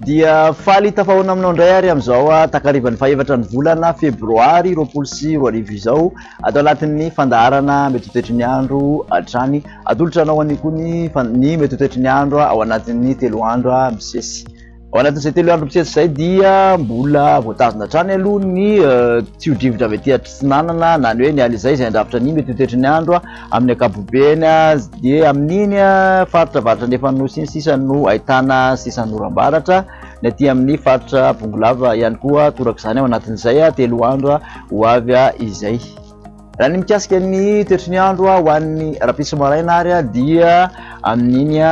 dia faly tafahoana aminao indray ary amin'izao ah, takarivan'ny fahevatra ny volana febroary roapolo sy roa arivo izao atao anatin'ny fandaharana metotoetry ny andro hatrany atolotra anao anio koa ny ny metotoetry ny andro ah, ao anatin'ny telo andro ah, misesy Ao anatin'izay telo andro mitsetsy izay dia mbola voatazona hatrany aloha ny tsio-drivotra avy aty atsinanana na ny hoe ny alizay izay handrafitra ny mety ho toetry ny andro amin'ny ankapobeny dia amin'iny faritra varatra ny efa-nosy iny sisa no ahitana sisan'ny oram-baratra ny aty amin'ny faritra bongolava ihany koa torak'izany ao anatin'izay telo andro ho avy izay. Raha ny mikasika ny toetry ny andro ho an'ny rahampitso maraina ary dia amin'iny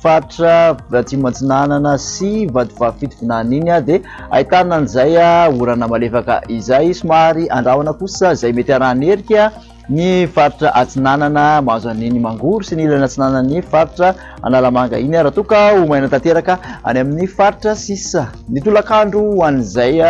faritra Atsimo Atsinanana sy Vatovavy Fitovinany iny dia ahitana an'izay orana malefaka izay. Somary andrahona kosa izay mety harahan'ny erika ny faritra Atsinanana mahazo an'iny Mangoro sy ny ilany Atsinanan'ny faritra. Analamanga iny raha toa ka ho maina tanteraka any amin'ny faritra sisa. Ny tolakandro ho an'izay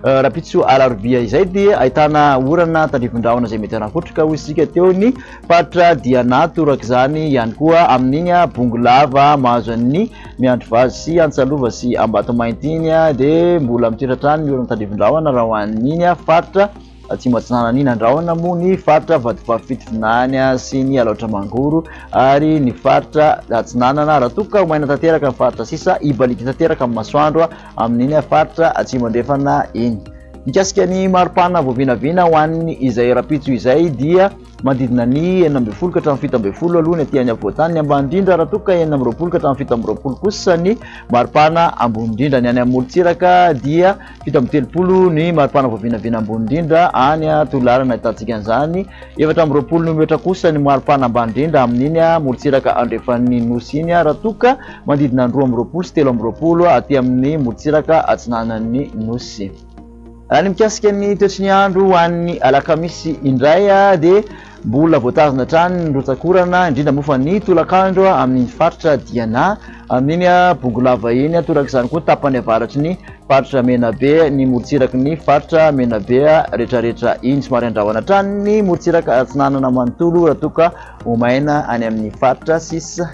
rahampitso alarobia izay dia ahitana orana tandrivin-drahona izay mety hanakotrika hoy isika teo ny faritra Diana torak'izany ihany koa amin'iny Bongolava mahazo an'ny Miandrivazo sy Antsalova sy Ambatomainty iny dia mbola mitoetra hatrany ny orana tandrivin-drahona raha ho an'iny faritra Atsimo Atsinanan'i Nandrahona moa ny faritra Vatovavy-Fitovinany sy ny Alaotra Mangoro ary ny faritra Atsinanana. Raha toa ka maina tanteraka ny faritra sisa, hibaliaka tanteraka amin'ny masoandro amin'iny faritra Atsimo Andrefana iny. Mikasika ny mari-pana voavinavina ho an'ny izay rahampitso izay dia. Manodidina ny enina ambin'ny folo ka hatramin'ny fito ambin'ny folo aloha ny aty any afovoan-tany, ny ambany indrindra raha toa ka enina amby roapolo ka hatramin'ny fito amby roapolo kosa ny maripana ambony indrindra. Ny any amin'ny morontsiraka dia fito amby telopolo ny maripana voavinavina ambony indrindra any Toliara no ahitantsika an'izany, efatra amby roapolo nometra kosa ny maripana ambany indrindra amin'iny morontsiraka andrefan'ny Nosy iny raha toa ka manodidina ny roa amby roapolo sy telo amby roapolo aty amin'ny morontsiraka atsinanan'ny Nosy. Raha ny mikasika ny toetry ny andro ho an'ny alakamisy indray dia mbola voatazona hatrany ny rotsak'orana, indrindra moa fa ny tolakandro amin'iny faritra Diana amin'iny Bongolava iny, toraka izany koa ny tapany avaratry ny faritra Menabe, ny morontsiraky ny faritra Menabe rehetrarehetra iny. Somary handrahona hatrany ny morontsiraka atsinanana manontolo raha toa ka ho maina any amin'ny faritra sisa.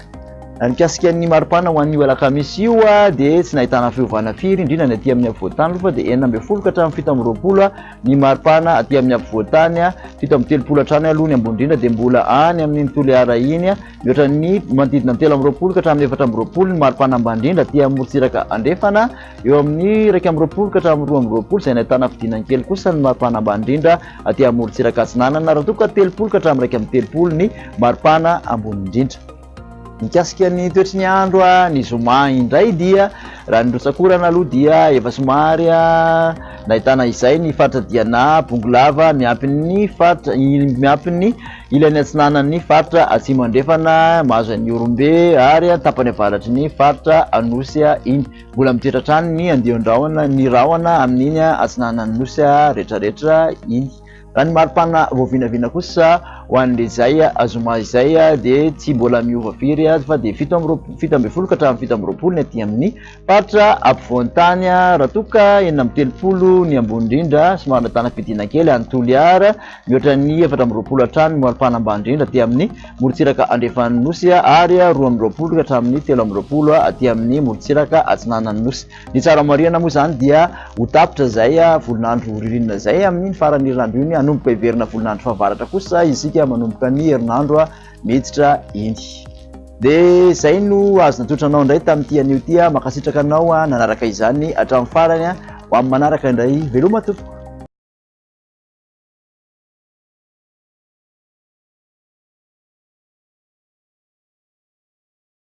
Raha mikasika ny maripana ho anio alakamisy io dia tsy nahitana fiovana firy indrindra ny aty amin'ny afovoantany aloha fa dia enina ambin'ny folo ka hatramin'ny fito amby roapolo ny maripana aty amin'ny afovoantany fito amby telopolo hatrany aloha ny ambony indrindra dia mbola any amin'ny Toliara iny mihoatra ny manodidina ny telo amby roapolo ka hatramin'ny efatra amby roapolo ny maripana ambany indrindra aty amin'ny morontsiraka andrefana eo amin'ny iraika amby roapolo ka hatramin'ny roa amby roapolo izay nahitana fidinany kely kosa ny maripana ambany indrindra aty amin'ny morontsiraka atsinanana raha toa ka telopolo ka hatramin'ny iraika amby telopolo ny maripana ambony indrindra Mikasika ny toetry ny andro ny zoma indray dia raha ny rotsakorana aloha dia efa somary nahitana izay ny faritra Diana, Bongolava miampy ny faritra miampy ny ilany atsinanan'ny faritra Atsimo Andrefana mahazo an'i Ihorombe ary ny tapany avaratry ny faritra Anosy iny. Mbola mitritra hatrany ny andian-drahona ny rahona amin'iny atsinanan'ny Nosy rehetra rehetra iny. Raha ny maripana voavinavina kosa ho an'ilay izay zoma izay dia tsy mbola miova firy fa dia fito amby roapolo, fito ambin'ny folo ka hatramin'ny fito amby roapolo ny aty amin'ny faritra ampovoan-tany raha toa ka enina amby telopolo ny ambony indrindra somary nahitana fidina kely any Toliara mihoatra ny efatra amby roapolo hatrany ny maripana ambany indrindra aty amin'ny morontsiraka andrefan'ny nosy ary roa amby roapolo ka hatramin'ny telo amby roapolo aty amin'ny morontsiraka atsinanan'ny nosy. Ny tsara marihana moa izany dia ho tapitra izay volon'andro ririnina izay, amin'iny faran'ny herinandro iny, hanomboka hiverina volon'andro fahavaratra kosa isika manomboka ny herinandro miditra iny. Dia izay no azo natolotra anao indray tamin'ity anio ity. Mankasitraka anao nanaraka izany hatramin'ny farany. Ho amin'ny manaraka indray, veloma tompoko.